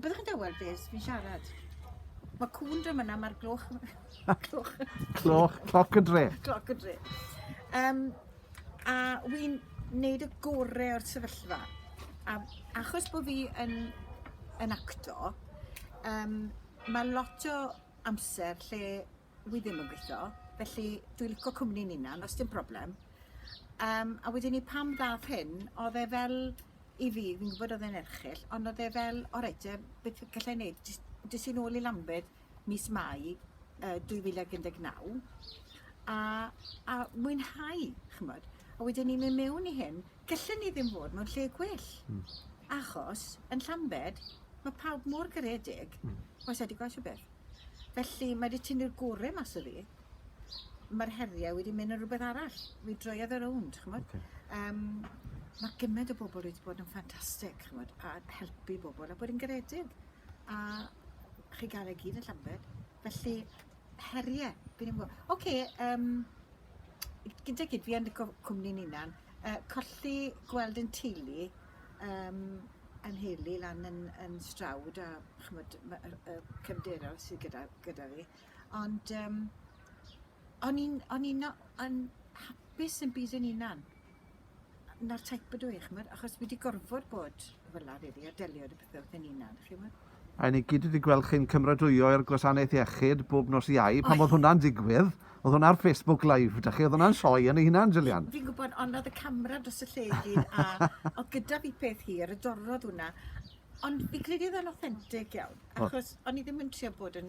Byddwch chi'n dawel beth fi'n siarad. Mae cwn dra myna, mae'r gloch... gloch... cloch, cloc y dre. Cloc y dre. Um, a wy'n neud y gorau o'r sefyllfa. A achos bod fi yn, yn acto, um, mae lot o amser lle wi ddim yn gweitho felly dwi lico cwmni Nina os dim problem. Yym a wedyn 'ny pan ddath hyn odd e fel i fi fi'n gwbod odd e'n erchyll ond odd e fel o reit te beth fi gallai neud jys des i nôl i Lambed mis Mai yy dwy fil ag un deg naw a a mwynhau ch'mbod a wedyn 'ny myn' miwn i hyn gelle ni ddim fod mewn lle gwell. Hmm. Achos yn Llambed ma' pawb mor garedig. Hmm. Oes e 'di gwel' shwbeth? Felly mae 'di tynnu'r gore mas o fi. Ma'r herie wedi mynd yn rwbeth arall. Mi droiodd e rownd ch'mod? Oce. Yym ma' gyment o bobol wedi bod yn ffantastic ch'mod a helpu bobol a bod yn garedig a chi ga'l e gyd yn Llambed felly herie fi ddim yn gwbo. Oce yym gyda gyd fi yn y co- cwmni'n 'unan yy colli gweld 'yn teulu yym 'yn nheulu lan yn yn Stroud a ch'mod ma' yr y cefndiroedd sy gyda gyda fi ond yym o'n i'n o'n i'n o- yn hapus yn byd yn 'unan. 'na'r type ydw i ch'mod achos fi 'di gorfod bod fel 'a rili a delio 'da pethe wrth fy hunan chi 'mod? A ni gyd wedi gweld chi'n cymradwyo i'r gwasanaeth iechyd bob nos iau. Pan oedd hwnna'n digwydd, oedd hwnna ar Facebook Live, da chi, oedd hwnna'n sioe yn ei hunan, Gillian. Fi'n gwybod, ond oedd y camera dros y lle i gyd, a oedd gyda fi peth hir, y dorrodd hwnna. Ond fi'n credu oedd e'n authentic iawn, achos o'n i ddim yn trio bod yn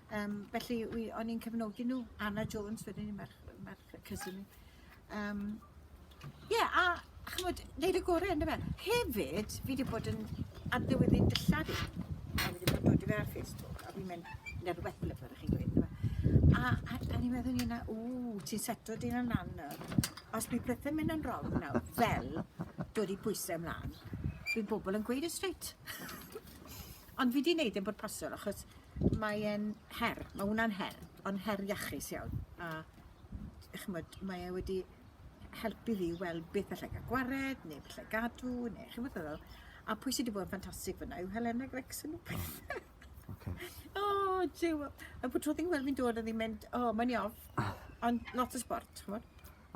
Yym felly wi o'n i'n cefnogi nhw. Anna Jones wedyn 'ny merch yy merch yy cysyn i. Yym ie a ch'mod neud y gore on'd yfe? Hefyd fi 'di bod yn addewidu'n dillad i a fi 'di bod yn dodi fe ar Facebook a fi'n mynd ne' rwbeth fel 'a fel 'a chi'n gweud on'd yfe? A a a o'n i'n meddwl ynglŷn â ww ti'n seto dy hun lan nawr. Os bydd pethe'n mynd yn rong nawr fel dodi pwyse mlan bydd bobol yn gweud e strêt. Ond fi 'di neud e'n bwrpasol achos Mae e'n her. Mae hwnna'n her. Ond her iachus iawn. A d- ch'mod mae e wedi helpu fi i weld beth allai ga'l gwared ne' beth 'llai gadw ne' chi'n gwbod fel a pwy sy 'di bod yn ffantastig fyn 'na yw Helena Gregson. Oce. O Duw! A bob tro fi'n gweld 'i'n dod o'dd 'i'n mynd o myn' i off. Ond lot o sbort ch'mod?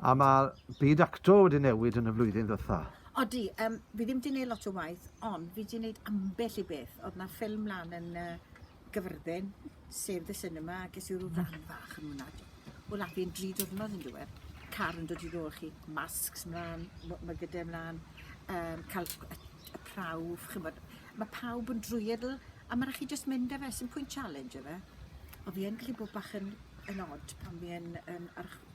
A mae byd acto wedi newid yn y flwyddyn ddytha. Odi, um, fi ddim wedi gwneud lot o waith, ond fi wedi gwneud ambell i beth. Oedd na ffilm lan yn uh, gyfyrddin, sef The Cinema, a ges i rhyw ran mm. fach yn hwnna. O la fi'n dri diwrnod yn diwedd. Car yn dod i ddol chi, masks mlaen, mae gyda mlaen, um, cael y, y prawf, chymod. Mae pawb yn drwyadl, a mae'n rhaid chi just mynd â fe, sy'n pwynt challenge efe. O fi yn gallu bod bach yn, yn odd pan fi yn, yn, yn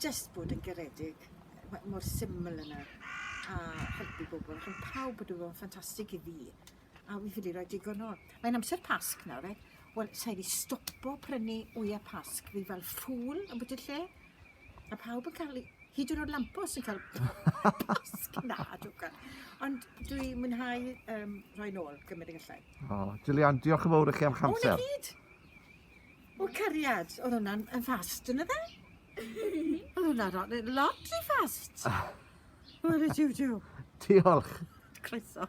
jyst bod yn garedig ma' mor syml yna a helpu bobol ch'od pawb wedi bod yn ffantastig i fi a fi ffili roi digon nôl. Mae'n amser Pasg nawr reit wel sai 'di stopo prynu wya Pasg fi fel ffŵl yn bwti lle a pawb yn ca'l 'u hyd yn o'd lampos yn ca'l Pasg na dwca ond dwi mwynhau yym rhoi nôl gymyd y gellai. O Julian diolch yn fowr i chi am 'ych amser. O 'na gyd. O cariad odd wnna'n yn fast on'd yfe? Odd wnna ro- ne- lot ry fast. Ware jiw jiw. Diolch. Croeso.